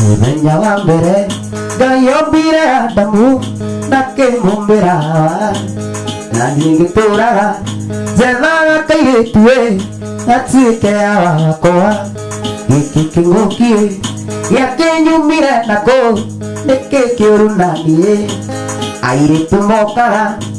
mũthenya wa mbere ngai ombire adamu na kĩmumbĩra na niĩ ngĩtũraga njethaga kairĩtu ĩ gatuĩke ya wakwa gĩkĩ kĩng'ũki ĩ gĩakĩnyumire nakũ nĩkĩ kĩũru na niĩ airĩtu mokaga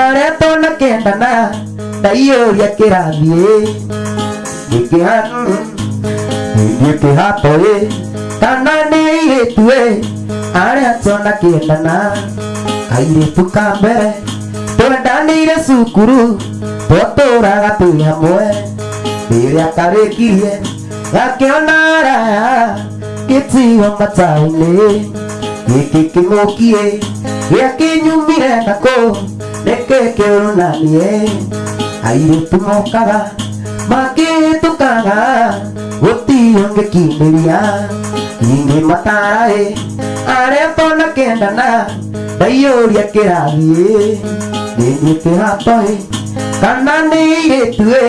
areto na kendana ndaiyũria kĩrathiĩ ingĩhanu ndiĩ kĩhato ĩ kana nĩ airĩtu ĩ areto na kendana kairĩtu ka mbere twendanĩire cukuru twatũraga twĩ hamwe rĩrĩa karĩkirie gakĩona araya gĩtiga matainĩ gĩkĩ kĩmũkiĩ gĩa kĩnyumire nakũ nĩkĩ kĩonanie airĩtu mokaga makĩhĩtũkaga gũtiyo ngĩkindĩria ingĩ mataraĩ arĩa tonakendana ndaiyũria kĩrathiĩ nĩnyuĩ kĩhatoĩ kana nĩ irĩtuĩ